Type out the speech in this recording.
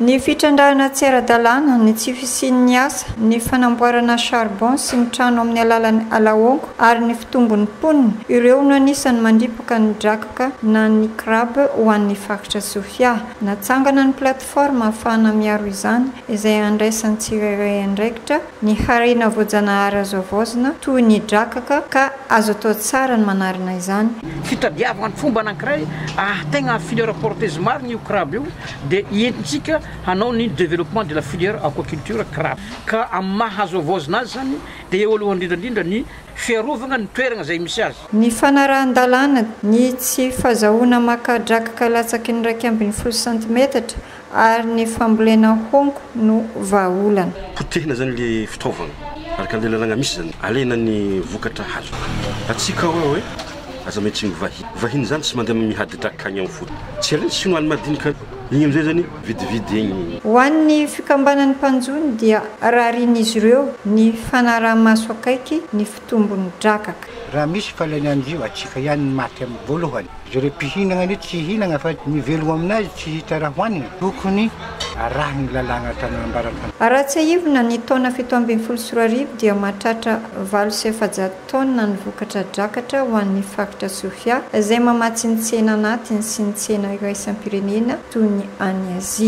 Ny fitrandrahana tsy ara-dalàna, ny tsy fisian'ny asa, ny fanamboarana charbon sy ny trano amin'ny alalan'ny alaonko ary ny fitombon'ny mponina, ireo no anisan'ny mandripaka ny drakaka na ny crab ho an'ny faritra Sofia. Natsangana ny plateforme ahafahana miaro izany, izay handraisan'ny tsirairay andraikitra, Ny harena voajanahary azo havaozina toy ny drakaka ka azo atao tsara ny manarina izany. Fitadiavana fomba anankiray ahategna à filière porteuse maro ny io crabe io dia entintsika hanao ny développement de la filière aquaculture crabe ka amin'ny maha azo havaozina azy zany dia eo alohan'ny indrindra indrindra ny fiarovagna ny toeragna izay misy azy. Ny fanarahan-dalàna, ny tsy fazahoana maka drakaka latsaky ny iraika ambin'ny folo santimetatra Ary ny fambolena hongo no vahaolana. Potehina izany ilay fitaovana. Araka an'ilay lalàna misy izany, alaina ny vokatra hazo. Hatsiaka aho hoe aza miha tsy mivahy. Vahiny izany tsy mandeha mihadi-draka any amin'ny foto. Tsy alain'ny Sinoa ny madinika. Iny amin'izay izany vidividy egny. Ho an'ny fikambanan'ny mpanjono dia rarian'izy ireo ny fanaraha-maso akaiky ny. tombony drakaka. Raha misy falany any io atsika ihany ny maty am voalohany. Zareo mpihinagna anie tsy hihinagna fa ny velogno aminazy tsy hita raha hoanigny. Tokony arahigny lalàgna tany ambarankandro. Raha tsiahivina ny taona fito ambin'ny folo sy roa arivo dia mahatratra valo sy efajato taonina ny vokatra drakatra ho an'ny faritra Sofia izay mamatsy ny tsena anatiny sy ny tsena iraisam-pirenena toy ny any Azia.